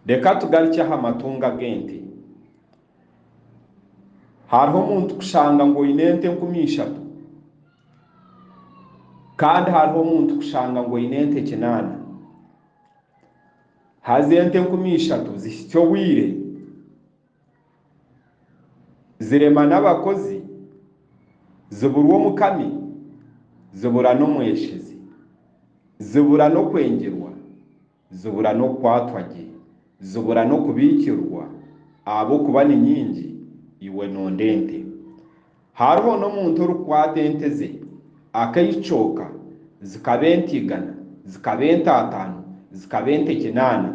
Reka tugarukye aha matungo ag'ente. Hariho omuntu kushanga ngu oine ente enkumi ishatu, kandi hariho omuntu kushanga ngu oine ente kinaana. Haza ente enkumi ishatu zihitsya obwire, zirema n'abakozi, ziburwa omukami, zibura n'omweshezi, zibura n'okwengirwa. Zibura n'okukwatwa gye, zibura n'okubiikirwa, ahabw'okuba ni nyingi, iwe noonda ente. Hariho n'omuntu orikukwata ente ze, akaicooka, zikaba ente igana, zikaba ente ataano, zikaba ente kinaana.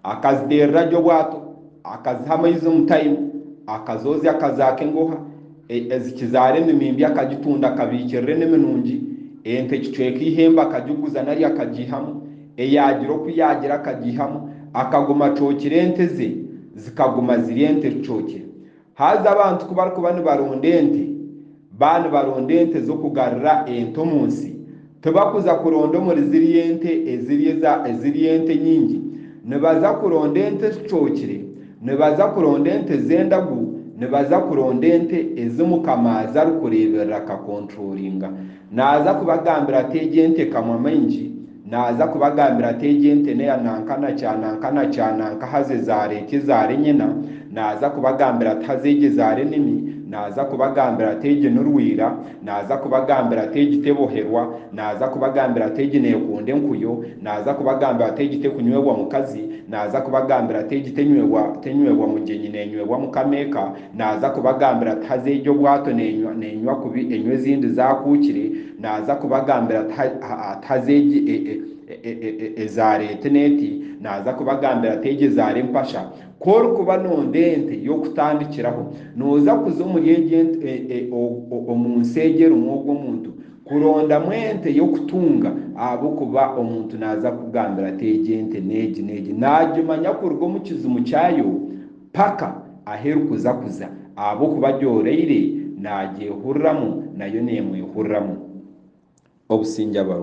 Akaziteerera gye obwato, akaziha amaizi omu taimu, akazoozya akazaaka engoha, Ezikizaara emimimbi akagitunda akabiikirira enimi nungi, ente ekicweka eihembe akagiguza nari akagiihamu, eyaagira oku yaagira akagiihamu, akaguma acookire ente ze, zikaguma ziri ente ezicookire. Haza abantu ku barikuba nibaronda ente, baba nibaronda ente z'okugarura ente omu nsi, Tibakuza kuronda omuri zirya ente eziri eza, eziri ente nyingi. Nibaza kuronda ente ezicookire, nibaza kuronda ente ez'endagu, nibaza kuronda ente ezi Mukama aza arikureeberera akakonturoringa. Naaza kubagambira ati, Egi ente ekamwa maingi. Naaza kubagambira ati, Egi ente n'eya nanka na kya nanka na kya nanka haza ezaara eti, ezaara enyina. Naaza kubagambira ati, Haza egi ezaara enimi. Naaza kubagambira ati, Egi ni rwira. Naaza kubagambira ati, Egi teboherwa, naaza kubagambira ati, Egi neekunda enkuyo, naaza kubagambira ati, Egi tekunywebwa mukazi, naaza kubagambira ati, Egi tenywebwa tenywebwa mugyenyi, neenywebwa mukama eka, naaza kubagambira ati, Haza egi obwato neenywa neenywa kubi enywa ezindi zaakuukire, naaza kubagambira ati, ha ha ati, Haza egi e e e e ezaara eti n'eti, naaza kubagambira ati, Egi ezaara empasha. Ku orikuba noonda ente y'okutandikiraho, nooza kuza omuri egi ente, omu nsi egi erimu ogwo muntu, kurondamu ente y'okutunga ahabw'okuba omuntu naaza kukugambira ati egi ente n'egi n'egi, naagimanya kuruga omu kizimu kyayo paka ahu erikuza kuza ahabw'okuba agyoreire naagyehuriramu nayo neemwehuriramu. Obusingye abaru.